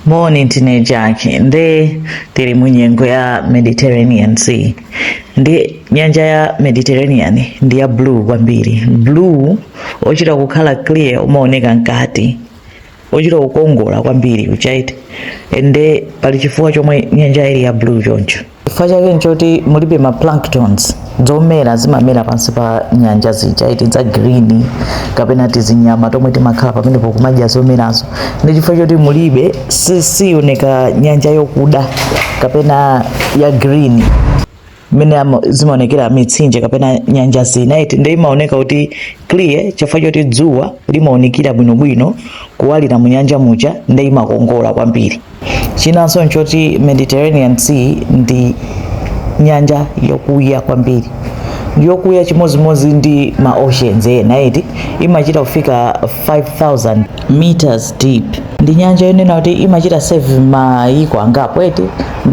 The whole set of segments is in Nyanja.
Moni ndine Jack nde tili mu nyengo ya Mediterranean Sea ndi nyanja ya Mediterranean ndi ya blue kwambiri blue ochita kukhala clear umaoneka mkati ochita kukongola kwambiri kuchani eti ende pali chifukwa chomwe nyanja ili ya blue choncho chifukwa chake nchoti mulibe ma planktons zomera zimamera pansi pa nyanja zija eti za green kapena tizinyama tomwe timakhala pamenepo kumadya zomerazo ndi chifukwa choti mulibe si- siyoneka nyanja yokuda kapena ya green mmene ama- zimaonekera mitsinje kapena nyanja zina eti nde imaoneka kuti clear chifukwa choti dzuwa limaonekera bwinobwino kuwalira mu nyanja muja nde imakongola kwambiri Chinanso n'choti Mediterranean Sea ndi nyanja yokuya kwambiri. Yokuya chimodzimodzi ndi ma oceans ena eti, imachita kufika 5,000 meters deep. Ndi nyanja yonena kuti imachita serve mayiko angapo eti,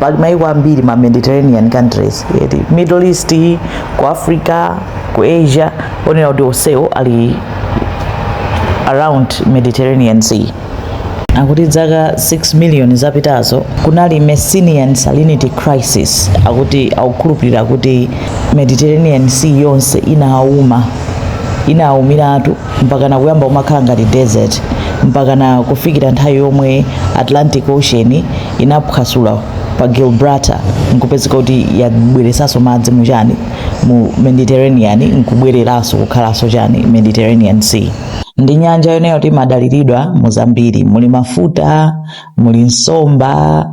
pali mayiko ambiri ma Mediterranean countries eti, Middle East, ku Africa, ku Asia, onena kuti onsewo ali around Mediterranean Sea. akuti dzaka 6 miliyoni zapitazo kunali messinian salinity crisis akuti akukhulupirira kuti mediterranean sea yonse inauma inaumiratu mpakana kuyamba kumakhala ngati desert mpakana kufikira nthawi yomwe atlantic ocean inaphwasula pa gibraltar nkupezeka kuti yabweresanso madzi muchani mu mediterranean nkubwereranso kukhalanso chani mediterranean sea ndi nyanja yonena kuti imadaliridwa mu zambiri muli mafuta muli nsomba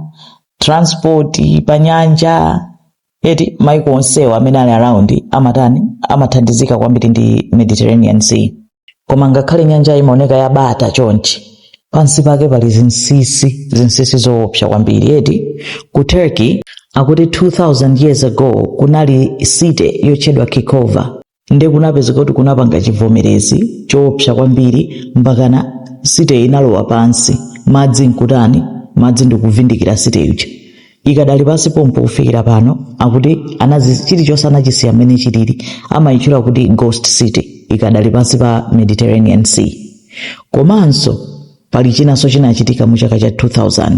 transport pa nyanja eti maiko onsewo amene ali around amatani amathandizika kwambiri ndi mediterranean sea koma ngakhale nyanja imaoneka yabata chonchi pansi pake pali zinsisi zinsisi zoopsa kwambiri eti ku turkey akuti 2000 years ago kunali city yotchedwa kekova nde kunapezeka kuti kunapanga chivomerezi choopsa kwambiri mpakana city inalowa pansi madzi nkutani madzi ndikuvindikira city ija ikadali pansi pompo kufikira pano akuti anazi chilichonse anachisiya mmene chilili amayitchula kuti ghost city ikadali pansi pa mediterranean sea komanso pali chinanso chinachitika mu chaka cha 2000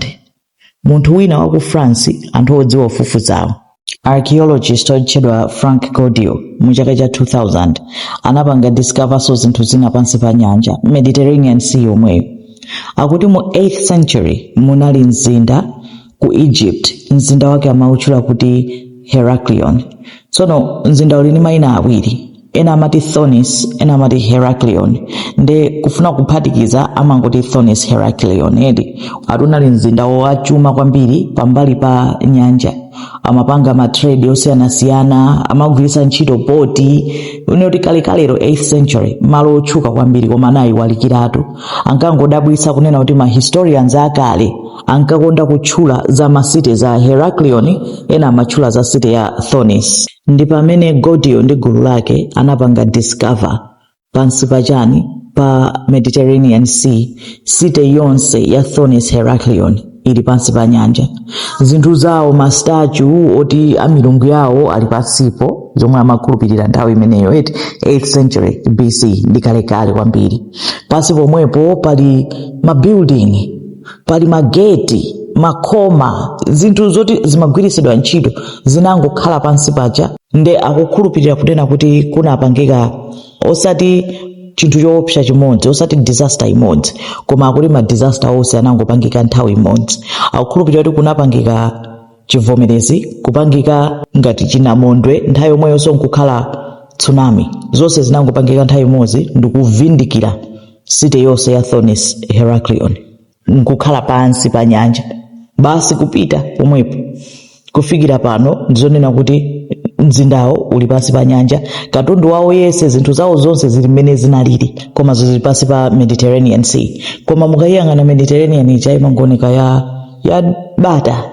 munthu wina wa ku France anthu odziwa kufufuzawo. Archaeologist otchedwa Franck Goddio mu chaka cha 2000 anapanga discoverso zinthu zina pansi pa nyanja Mediterranean Sea yomweyo. Akuti mu 8th century munali mzinda ku Egypt, mzinda wake amautchula kuti Heracleion. Tsono mzinda uli ndi mayina awiri. ena amati thonis ena amati heraclion nde kufuna kuphatikiza amangoti thonis heraclion eti ati unali mzinda wachuma kwambiri pambali pa nyanja amapanga matrade osiyanasiyana amagwiritsa ntchito boti unoti kalekalero 8th century malo otchuka kwambiri koma anayiwalikiratu ankangodabwitsa kunena kuti ma historians akale ankakonda kutchula za ma city za heraclion ena amatchula za city ya thonis ndi pamene Goddio ndi gulu lake anapanga discover pansi pa chani pa Mediterranean Sea city yonse ya Thonis Heraclion ili pansi pa nyanja zinthu zawo mastatue oti a milungu yawo ali pansipo zomwe amakhulupirira nthawi imeneyo 8th century BC ndi kalekale kwambiri pansi pomwepo pali mabuilding pali mageti makoma zinthu zoti zimagwiritsidwa ntchito zinangokhala pansi paja nde akukhulupirira kunena kuti kunapangika osati chinthu choopsa chimodzi osati disaster imodzi koma akuti ma disaster onse anangopangika nthawi imodzi akukhulupirira kuti kunapangika chivomerezi kupangika ngati chinamondwe nthawi yomweyonso nkukhala tsunami zonse zinangopangika nthawi imodzi ndikuvindikira city yonse ya thonis heraclion nkukhala pansi pa nyanja basi kupita pomwepo kufikira pano ndizonena kuti mzindawo uli pansi pa nyanja katundu wawo yese zinthu zawo zonse zili mmene zinalili koma zili pansi pa mediterranean sea koma mukayiyang'ana mediterranean ija imangoneka ya ya bata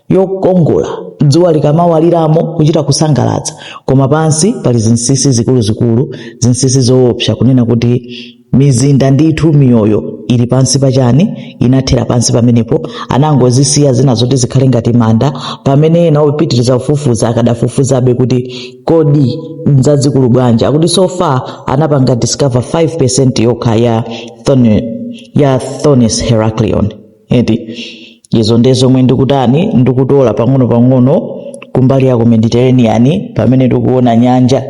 yokongola dzuwa likamawaliramo kuchita kusangalatsa koma pansi pali zinsisi zikuluzikulu zinsisi zoopsa kunena kuti mizinda ndithu miyoyo ili pansi pachani inathera pansi pamenepo anangozisiya zina zoti zikhale ngati manda pamene ena opitiriza kufufuza akadafufuzabe kuti kodi nzazikulu bwanji akuti so far anapanga discover 5% yokha ya thonis heraclion eti izo nde zomwe ndikutani ndikutola pang'ono-pang'ono kumbali ya ku mediterranean pamene tikuona nyanja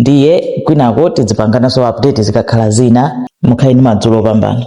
ndiye kwinako tidzipangananso update zikakhala zina mukhale ndi madzulo opambana